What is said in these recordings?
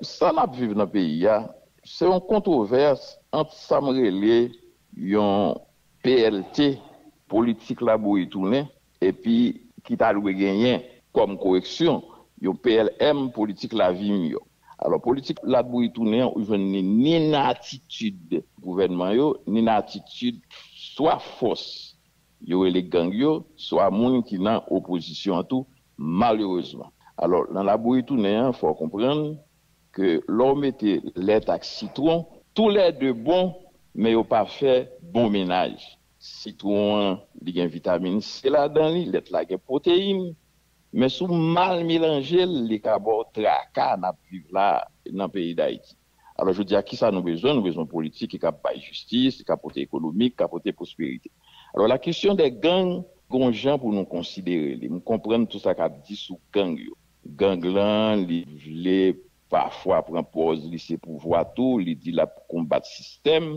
Sa n ap viv nan peyi a, se yon kontwovès ant sa m rele yon plt, politik labouyi tounen, epi ki ta dwe genyen kòm koreksyon, yon plm, politik lavi miyò. Alò, politik labouyi tounen an, ou jwenn li ni nan atitid gouvènman yo, ni nan atitid swa fòs Yo rele gang yo swa moun ki nan opozisyon an tou malerezman. Alò nan labouyi tounen an fò w konprann ke lò w mete lèt ak sitwon tou lè 2 bon men yo pa fè bon mennaj. Sitwon an li gen vitamin C ladan li, lèt la gen pwoteyin men si w mal melanje l li ka ba w traka n ap viv la nan peyi Dayiti. Alò jodi a kisa nou bezwen? Nou bezwen yon politik ki ka bay jistis, ki ka pote ekonomik, ki ka pote pwosperite. Alò la kesyon dè gang gen yon jan pou nou konsidere li. M konprann tout sa k ap di sou gang yo. Gang lan li vle pafwa pran pòz li se pouvwa tou, li di l ap konbat sistèm.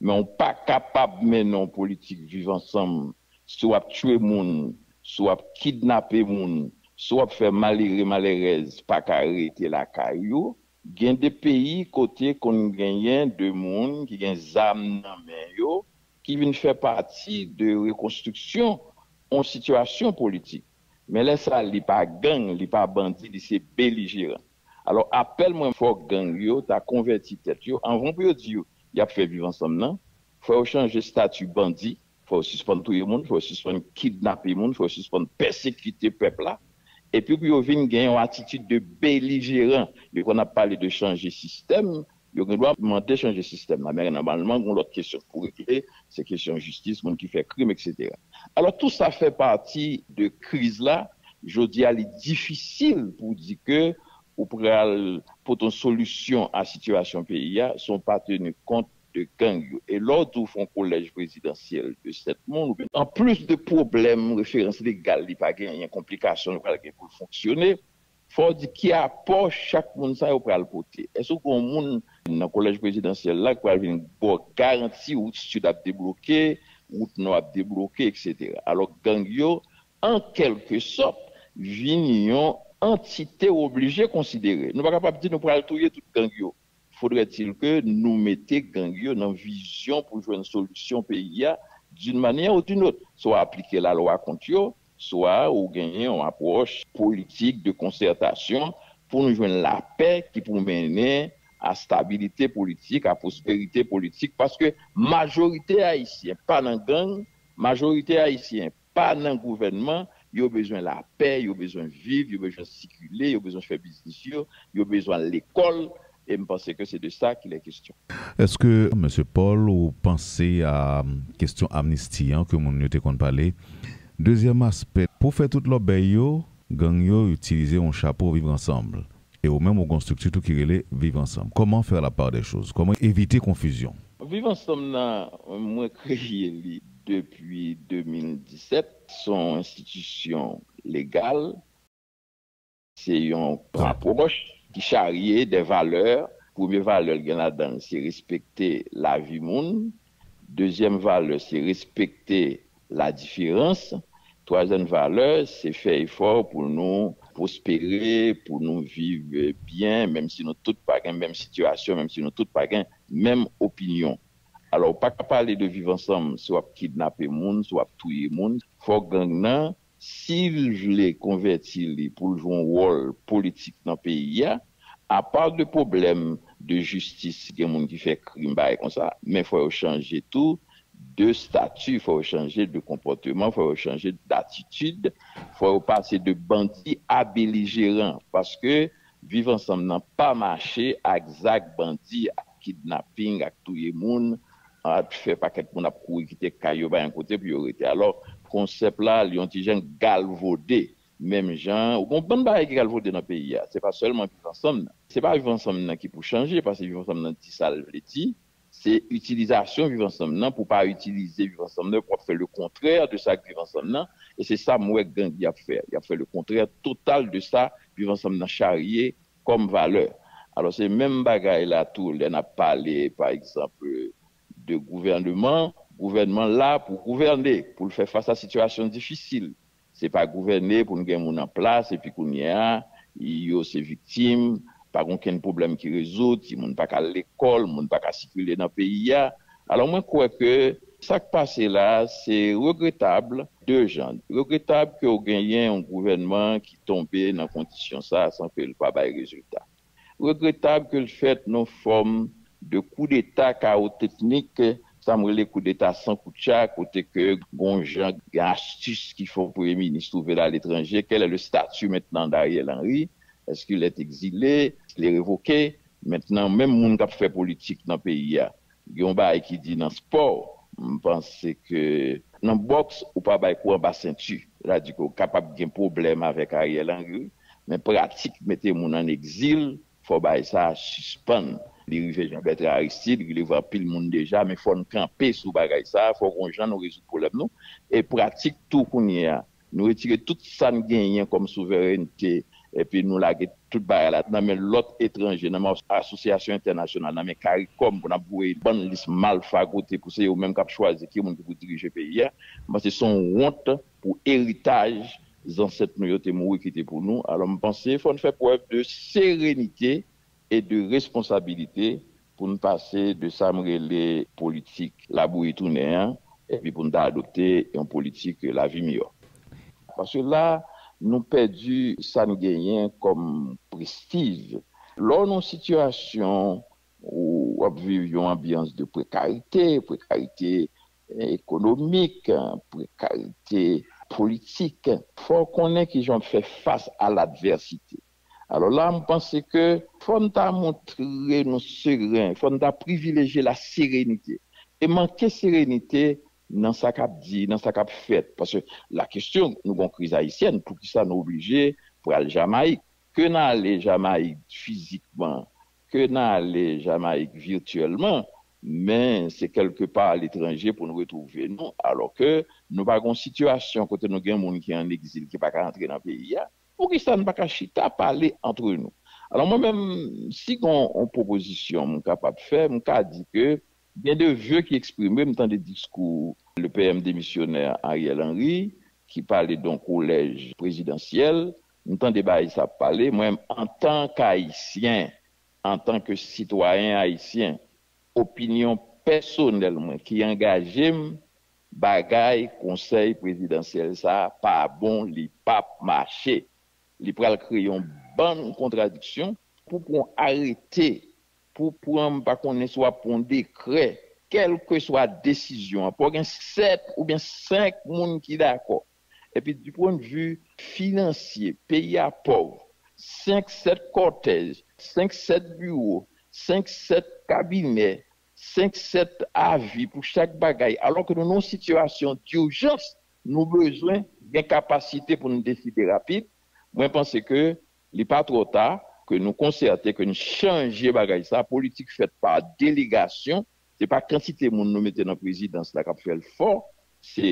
Men ou pa kapab mennen yon politik viv ansanm si w ap tchwe moun, si w ap kidnape moun, si w ap fè malere, malèrèz pa ka rete lakay yo. Gen de peyi kote konn genyen de moun ki gen zam nan men yo ki vin fè pati de rekonstriksyon on sitiyasyon politik. Men lè sa li pa gang, li pa bandi, li se belijeran. Alò apèl mwen fòk gang yo ta konvèti tèt yo anvan pou yo di yo y ap fè viv ansanm nan, fò yo chanje stati bandi Fò yo sispann touye moun, fò yo sispann kidnape moun, fò yo sispann pèsekite pèp la. Epi pou yo vin gen yon atitid de belijeran. Yo konn ap pale de chanje sistèm, yo gen dwa mande chanje sistèm la, men nòmalman gen yon lòt kesyon pou regle, se kesyon jistis, moun ki fè krim eksetera. Alò tou sa fè pati de kriz la, jodi a li difisil pou w di ke ou pral pote yon solisyon a sitiyasyon peyi a san w pa teni kont de gang yo e lè w di w fè yon kolèj prezidansyèl de 7 moun oubyen. Anplis de pwoblèm referans legal li pa genyen, konplikasyon li pral gen pou l fonksyone, fò w di ki apò chak moun sa yo pral pote. Èske gen yon moun nan kolèj prezidansyèl la ki pral vin ba w garanti wout sid ap debloke, wout nò ap debloke eksetera. Alò gang yo an kèlke sòt vin yon antite w oblije konsidere. Nou pa kapab di nou pral touye tout gang yo. Faudrait-il que nou mete gang yo nan vizyon pou jwenn solisyon peyi a d'une manière ou d'une autre. Swa aplike la lwa kont yo, swa ou genyen yon apwòch. Politik de konsertasyon pou nou jwenn lapè ki pou mennen a stabilite politik, a pwosperite politik paske majorite ayisyen pa nan gang, majorite ayisyen pa nan gouvènman, yo bezwen lapè, yo bezwen viv, yo bezwen sikile, yo bezwen fè biznis yo, yo bezwen al lekòl, e m panse ke se de sa kil è kestyon. Eske Mesye Paul ou panse a kestyon amnisti an ke moun yo te konn pale? Dezyèm aspè, pou fè tout lòbèy yo, gang yo itilize yon chapo viv ansanm, e ou menm ou gen yon strikti tou ki rele viv ansanm. Kòman faire la part des choses? Kòman evite konfizyon? Viv ansanm nan mwen kreye li. Depi 2017, se yon enstitisyon legal, se yon apwòch ki charye de valè. Premye valè l gen ladan l se respekte lavi moun. Dezyèm valè se respekte ladiferans. Twazyèm valè se fè efò pou nou pwospere, pou nou viv byen, menm si nou tout pa gen menm sitiyasyon, menm si nou tout pa gen menm opinyon. Alò ou paka pale de viv ansanm si wap kidnape moun, si wap touye moun. Fò gang nan sil vle konvèti li poul jwe yon wòl politik nan peyi a, apa de pwoblèm de jistis si gen moun ki fè krim bagay konsa, men fò yo chanje tou de stati, fò yo chanje de konpòteman, fò yo chanje datitid, fò yo pase de bandi a belijeran paske Viv ansanm nan pa mache ak zak bandi ak kidnapping ak touye moun ak fè pakèt moun ap kouri kite kay yo pa gen kote pou yo rete alò konsèp la li yon ti jan galvode menm jan ou gon bann bagay ki galvode nan peyi a se pa sèlman viv ansanm nan se pa viv ansanm nan ki pou chanje paske viv ansanm nan di sa l vle di Se itilizasyon viv ansanm nan pou pa itilize viv ansanm nan pou ap fè le kontrè de sa k viv ansanm nan e se sa m wè gang y ap fè y ap fè le kontrè total de sa viv ansanm nan charye kòm valè alò se menm bagay la tou lè n ap pale pa egzanp de gouvèneman gouvènman la pou gouvène pou l fè fas a sitiyasyon difisil Se pa gouvène pou n gen moun an plas epi kounye a yo se viktim, pa gen okenn pwoblèm ki rezoud, timoun pa ka al lekòl, moun pa ka sikile nan peyi a. Alò mwen kwè ke sa k pase la a se regretab de jan. Regretab ke w genyen yon gouvènman ki tonbe nan kondisyon sa a san ke l pa bay rezilta. Regretab ke l fèt nan yon fòm de koudeta kawo teknik, sa m rele koudeta san koutcha, kote ke gen yon jan, gen astis ki fè yon premye minis twouve l aletranje. Quel est le statut maintenant d'Ariel Henry? Est-ce qu'il est exilé? Est-ce qu'il est révoqué? Mentnan menm moun k ap fè politik nan peyi a, Gen yon bagay ki di nan spò, m panse ke nan bòks ou pa bay kou anba senti. Se ta di ke ou kapab gen pwoblèm avèk Ariel Henry wi, men pratik mete moun an egzil, fò bagay sa a sispann. Li rive Jean Bertrand Aristide, li rive anpil moun deja, men fò n kanpe sou bagay sa a, fò gen yon jan nou rezoud pwoblèm nou. E pratik tou kounye a, Nou retire tout sa n genyen kòm souverènte epi nou lage tout bagay la nan men lòt etranje, nan men asosyasyon entènasyonal, nan men caricom pou n ap voye bann lis malfra kote pou se yo menm k ap chwazi ki moun ki pou dirije peyi a. M panse se yon wont pou eritaj zansèt nou yo te mouri kite pou nou. Alò m panse fò n fè prèv de serenite e de responsabilite Pou n pase de sa m rele politik labouyi tounen an epi pou n ta adopte yon politik lavi miyò. Paske la, nou pèdi sa n genyen kòm prestij. Lè w nan yon sitiyasyon ou w ap viv yon anbyans de prekarite, prekarite ekonomik, prekarite politik, fò w konnen ki jan w ap fè fas a ladvèsite. Alò la m panse ke fò n ta montre nou seren, fò n ta privilejye laserenite. E manke serenite nan sa k ap di, nan sa k ap fèt. Paske lakestyon, nou gen yon kriz ayisyèn, poukisa nou oblije pral Jamayik? Ke n ale Jamayik fizikman, ke n ale Jamayik vityèlman, men se kèlke pa aletranje pou n retwouve nou. Alò ke nou pa gen yon sitiyasyon kote nou gen moun ki an egzil ki pa ka antre nan peyi a. Poukisa n pa ka chita pale antre nou? Alò mwen menm, si gen yon pwopozisyon m kapab fè, m ka di ke gen de ve ki eksprime, m tande diskou le PM demisyonè Ariel Henry ki pale don kolèj prezidansyèl, m tande bagay sa ap pale, mwen menm antan k Ayisyen, antan ke sitwayen Ayisyen, opinyon pèsonèl mwen ki angaje m Bagay konsèy prezidansyèl sa pa bon li pap mache li pral kreye yon bann kontradiksyon. Pou pran arete, pou pran m pa konnen si w ap pran yon dekrè, kèlkeswa desizyon an, pou gen 7 oubyen 5 moun ki dakò. Epi di pwen vi finansye, peyi a pòv, 5, 7 kòtèj, 5, 7 biwo, 5, 7 kabinè, 5 7 avi pou chak bagay alò ke nou nan yon sitiyasyon durjans nou bezwen gen kapasite pou nou deside rapid mwen panse ke li pa twò ta ke nou konsète ke nou chanje bagay sa politik fèt pa delegasyon se pa kantite moun nou mete nan prezidans la kap fèl fò Se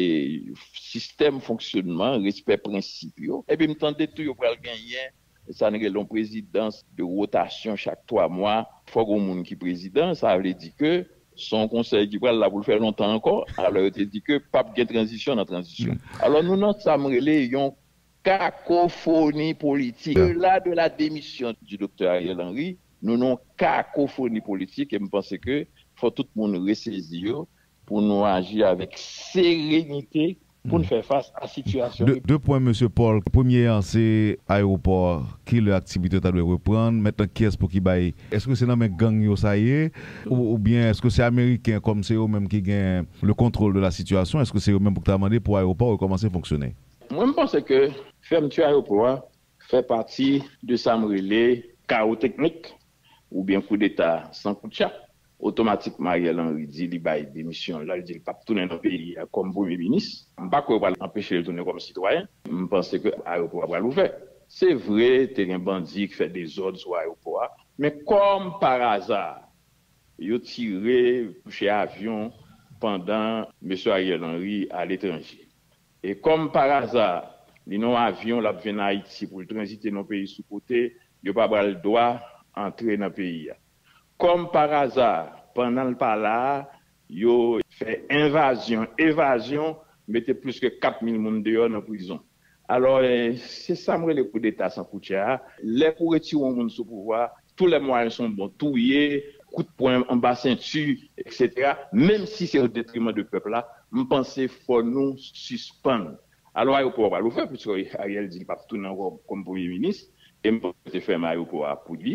sistèm fonksyonman, respè prensip yo. Epi m tande tou yo pral genyen sa n rele yon prezidans de wotasyon chak twa mwa. Fò gen yon moun ki prezidan. Sa vle di ke s on konsèy ki pral la pou l fè lontan ankò. Alò yo te di ke p ap gen tranzisyon nan tranzisyon. Alò nou nan sa m rele yon kakofoni politik. Au delà de la démission du Docteur Ariel Henry, nou nan yon kakofoni politik e m panse ke fò tout moun resezi yo Pou nou aji avèk serenite pou n fè fas a sitiyasyon ki. De pwen Mesye Paul, premye an se ayewopò ki lè aktivite yo ta dwe reprann, mentnan kiyès pou ki bay. Eske se nan men gang yo sa ye oubyen eske se ameriken kòm se yo menm ki gen le kontwol de la sitiyasyon eske se yo menm pou ki ta mande pou ayewopò rekòmanse fonksyone? Mwen m panse ke fèmti ayewopò a fè pati de sa m rele kawo teknik oubyen koudeta san koutchap, otomatikman Ariel Henry di li bay demisyon l, al di l p ap tounen nan peyi a kòm premye minis. M pa kwè yo pral anpeche l tounen kòm sitwayen. M panse ke ayewopò a pral ouvè. Se vre, te gen bandi ki fè dezòd sou ayewopò a, men kòm paraza, yo tire, touche avyon pandan mesye Ariel Henry aletranje. E kòm paraza, li nan yon avyon l ap vin Ayiti pou l tranzite nan yon peyi sou kote, Yo pa bal dwa antre nan peyi a. Kòm paraza, pandan l pa la a, yo fè envazyon, evazyon, mete plis ke 4 mil moun deyò nan prizon. Alò, se sa m rele koudeta san koutya a. Lè pou retire yon moun sou pouvwa a, tou lè mwayen son bon. Touye, kout pwen anba senti, eksetera, menm si se o detriman de pèp la, m panse fò nou sispann. Alò ayopò a pral ouvè puiske Ariel di li pap tounen ankò kòm premye minis e m panse yo te fèmen ayopò a pou li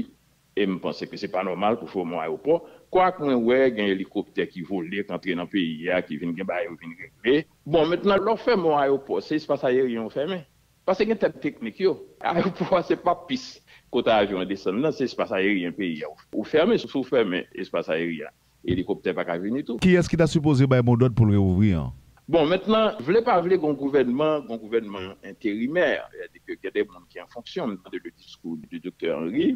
e m panse ke se pa nòmal pou fèmen yon ayopò kwak mwen wè gen elikoptè ki vole k antre nan peyi a ki vin gen bagay yo vin regle. Bon mentnan lè w fèmen yon ayopò se espas ayeryen ou fèmen pase gen tèm teknik yo ayopò a se pa pis kote avyon an desann nan se espas ayeryen peyi a ou fèmen si w fèmen espas ayeryen an Elikoptè pa ka vini tou. Kiyès ki ta sipoze bay modòd pou l reouvri an? Bon, mentnan, vle pa vle gon gouvènman, gon gouvènman enterimè, sètadi ke gen de moun ki an fonksyon. M tande le diskou de Doktè Henry,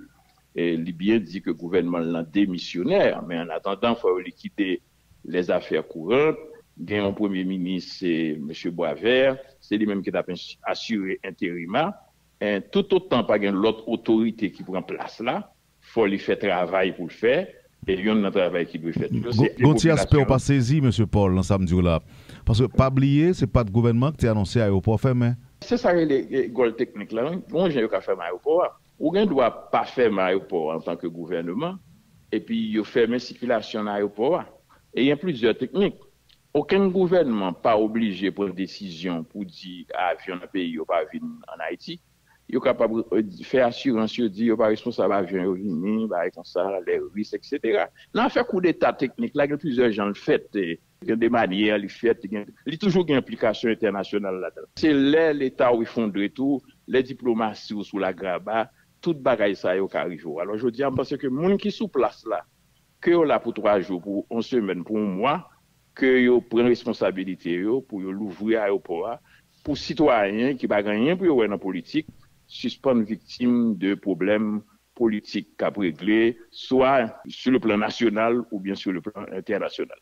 li byen di ke gouvènman l lan demisyonè, men an atandan fò yo likide les affaires courantes, gen yon premye minis se Mesye Boisvert, se li menm ki t ap asire enterima, toutotan pa gen lòt otorite ki pran plas la, fò li fè travay pou l fè e yonn nan travay ki dwe fèt yo se Gon ti aspè w pa sezi Mesye Paul nan sa m di w la paske pa bliye se pat gouvènman k te anonse ayewopò fèmen. Se sa rele gòl teknik la wi gon jan yo ka fèmen ayewopò a. Ou gen dwa pa fèmen ayewopò a antanke gouvèneman epi yo fèmen sikilasyon nan ayewopò a e gen plizyè teknik. Okenn gouvènman pa oblije pran desizyon pou di avyon nan peyi yo pa vin ann Ayiti. Yo kapab fè asirans yo di yo pa responsab avyon yo vini, bagay konsa, lè ris eksetera. Nan afè koudeta teknik la gen plizyè jan l fèt, gen de manyè li fèt, li toujou gen enplikasyon entènasyonal ladan l. Se lè Leta w efondre tou, lè diplomasi w sou lagraba, tout bagay sa yo ka rive w. Alò jodi a m panse ke moun ki sou plas la, ke yo la pou 3 jou, pou yon semèn, pou yon mwa, ke yo pran responsabilite yo pou yo louvri ayopò a, pou sitwayen ki pa gen anyen pou yo wè nan politik sispann viktim de pwoblèm politik k ap regle swa sou le plan nasyonal oubyen sou le plan entènasyonal.